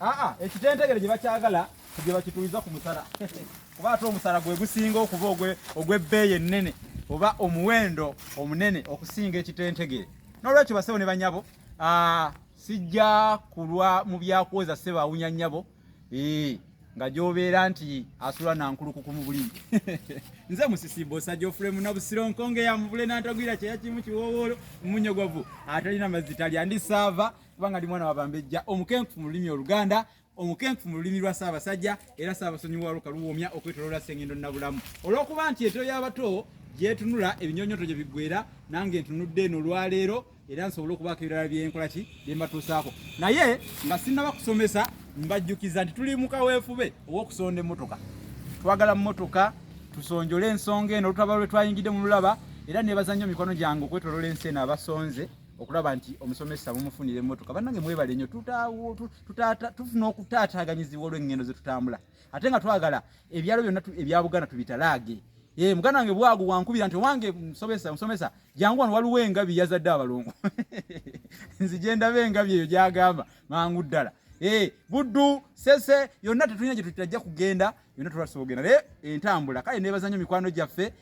aa ekitentegere gye bakyagala gye bakituuliza ku musala kuba ate omusala gwe gusinga okuba ogw'ebbeeyi ennene oba omuwendo omunene okusinga ekitentegere n'olwekyo basebo ne banyabo sijja kulwa mu byakwoza sebo awunya nyabo nga gyobeera nti asula nankulukuku mu bulimi nze musisibo sajofule munabusiro nkonge yamuvule nantagwira kyeyakimu kiwowoolo mumunyogovu atalina mazzi talya ndi saava kubanga ndi mwana wa Bambejja omukenkufu mu lulimi Oluganda omukenkufu mu lulimi lwa Ssaabasajja era Ssaabasonyiwa wa Luka Luwoomya okwetoloola Ssengendo Nabulamu olw'okuba nti eto y'abato gyetunula ebinyonyoto gye biggwera nange ntunudde eno olwaleero era nsobole okubaako ebirala byenkola ki bye mbatuusaako naye nga sinnaba kusomesa mbajjukiza nti tuli mu kaweefube ow'okusonda emmotoka twagala mmotoka tusonjole ensonga eno olutaba lwe twayingidde mu lulaba era nebaza nnyo mikono gyange okwetolola ensi eno abasonze okulaba nti omusomesa mumufunira emmotoka bannange mwebale nnyo tufuna okutaataaganyizibwa olw'engendo ze tutambula ate nga twagala ebyalo byonna ebya buganda tubitalaage ee muganda wange bwagu wankubira nti owange musomesa musomesa jangu wano waliwo engabi yazadde abalongo nzije ndaba engabi eyo gyagamba mangu ddala ee buddu sese yonna tetulina gye tutajja kugenda yonna tubasobogera naye entambula kale nebaza nnyo mikwano gyaffe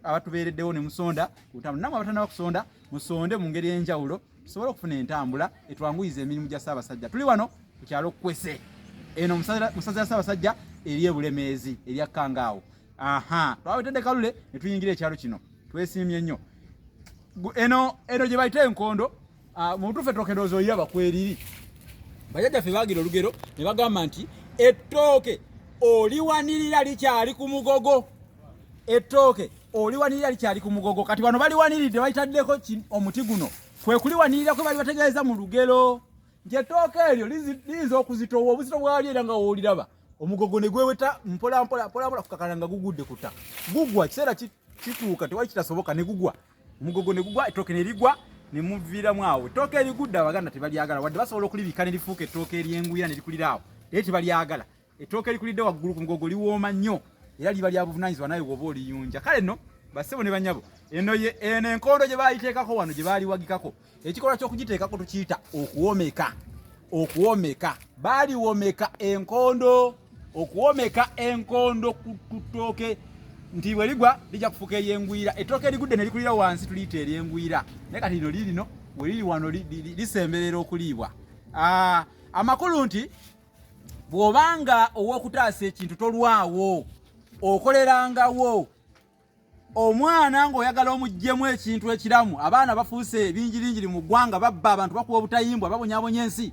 abatubeereddewo ne musonda kutambula namwe abatanaba kusonda musonde mu ngeri enjawulo tusobole okufuna entambula etwanguyiza emirimu gya ssaabasajja tuli wano ku kyalo kukwese eno musaza ya ssaabasajja eri ebulemeezi erya kangaawo aha twawetedde kalule ne tuyingira ekyalo kino twesiimye nnyo eno eno gye bayita enkondo Ah, mutufe tokedooza oyaba kweriri bajajja ffe bagira olugero ne bagamba nti ettooke oliwanirira likyali ku mugogo ettooke oliwanirira likyali ku mugogo kati bano baliwaniridde bayitaddeko omuti guno kwe kuliwanirira kwe bali bategeeza mu lugero nti ettooke eryo liyinza okuzitowa obuzito bwali era nga wooliraba omugogo ne gweweta mpolampola mpolampola kukakana nga gugudde ku ttaka gugwa kiseera kituuka tewali kitasoboka ne gugwa omugogo ne gugwa ettooke ne ligwa ne muviiramu awo ettooke erigudde abaganda tebalyagala wadde basobola okulibika ne lifuuka ettooke eryenguya ne likulira awo naye tebalyagala ettooke erikulidde waggulu ku mugogo liwooma nnyo era liba lya buvunaanyizibwa nawe woba oliyunja kale no bassebo ne banyabo eno ye eno enkondo gye baayiteekako wano gye baaliwagikako ekikolwa ky'okugiteekako tukiyita okuwomeka okuwomeka baliwomeka enkondo okuwomeka enkondo ku ttooke nti bwe ligwa lijja kufuka eryengwira ettooke erigudde ne likulira wansi tuliyita eryengwira naye kati lino lirino we liri wano lisemberera okuliibwa ah, amakulu nti bw'obanga ow'okutaasa ekintu tolwawo okolerangawo omwana ng'oyagala omuggyemu ekintu ekiramu abaana bafuuse ebingiringiri mu ggwanga babba abantu bakuba obutayimbwa babonyabonya ensi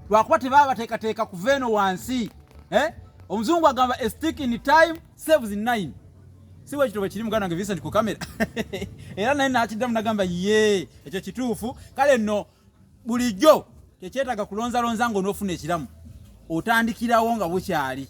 lwakuba tebaba bateekateeka kuva eno wansi eh? omuzungu agamba estick in time saves in nine si bwekito bwe kiri muganda nge vincent ku kamera era naye nakiddamu nagamba ye ekyo kituufu kale nno bulijjo tekyetaaga kulonzalonza nga onoofuna ekiramu otandikirawo nga bukyali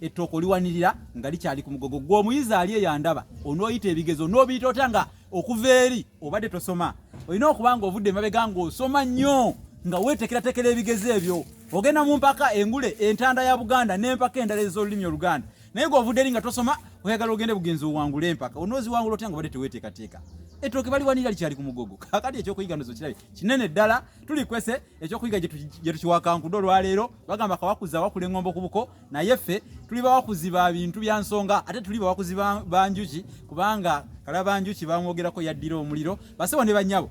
ettooka oliwanirira nga likyali ku mugogo gwe omuyizi ali eyandaba onooyita ebigezo onoobiyita otya nga okuva eri obadde tosoma olina okuba nga ovudde emabega ng'osoma nnyo nga weetekeratekera ebigezo ebyo ogenda mu mpaka engule entanda ya buganda n'empaka endala ez'olulimi oluganda naye gwe ovudde eri nga tosoma oyagala ogende bugenzi owangule empaka onooziwangula otya nga obadde teweteekateeka ettooke baliwanira likyali ku mugogo kakati ekyokuyiga nozo kirabe kinene ddala tulikwese ekyokuyiga gye tukiwakankude olwaleero bagamba kawakuza wakula engombo ku buko naye ffe tuli bawakuzi ba bintu bya nsonga ate tuli bawakuzi ba njuki kubanga kala ba njuki bamwogerako yaddira omuliro basebo ne banyabo